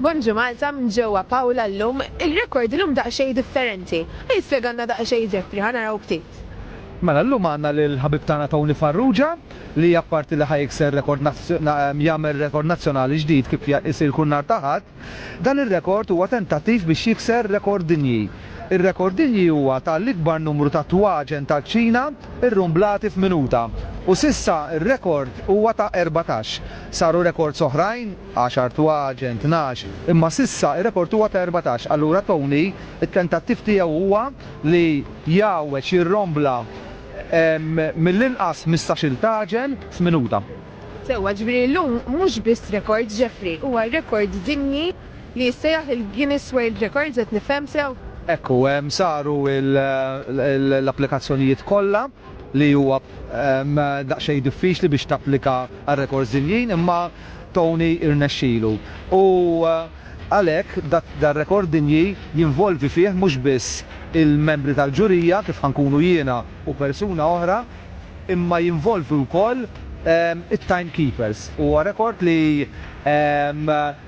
Bonġu Malta minn ġewwa Paola llum ir-rekord illum daqsxejn differenti. Ħa jispjegalna daqsxejn Jeffrey, ħa naraw ftit. Mela llum għandna lill-ħabib tagħna Tony Farrugia li apparti li ħa jikser rekord jagħmel rekord nazzjonali ġdid kif isir kull nhar ta' Ħadd, dan ir-rekord huwa tentattiv biex jikser rekord dinji. Ir-rekord dinji huwa ta' l-ikbar numru ta' twaġen tal-kċina rrumblati f'minuta u s'issa r-rekord huwa ta' erbatax. Saru rekords oħrajn. Għaxar twaġen, tnax, imma s'issa r-rekord huwa ta' erbatax. Allura Tony, it-tentattiv tiegħu huwa li jgħawweġ, jirrombla mill-inqas ħmistax-il tagħġen f'minuta. Sewwa, jiġifieri llum mhux biss rekord, Jeffrey, huwa rekord dinji li jissejjaħ il-Guinness World Records, qed nifhem sew? Hekk hu, saru l-applikazzjonijiet kollha. li huwa daqsxejn diffiċli biex tapplika għal rekords dinjin imma Tony irnexxilu u għalhekk dar-rekord dinji jinvolvi fih mhux biss il-membri tal-ġurija kif ħa nkunu jiena u persuna oħra imma jinvolvi wkoll it-time keepers. Huwa rekord li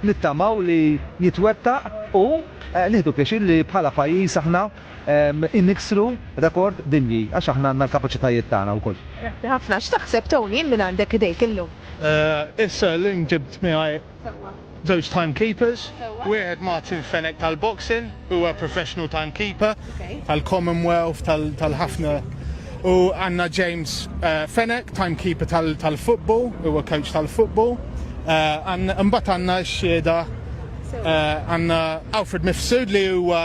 nittamaw li jitwettaq u nieħdu pjaċir li bħala pajjiż aħna niksru rekord dinji għax aħna għandna l-kapaċitajiet tagħna wkoll. Grazzi ħafna. X'taħseb Tony minn għandek idejk illum? Issa llum ġibt miegħi żewġ time keepers. Wieħed Martin Fenech tal-boxing, huwa professional time keeper tal-Commonwealth tal-ħafna u għandna James Fenech time keeper tal-football, huwa coach tal-football. Imbagħad għandna x-xhieda għandna Alfred Mifsud li huwa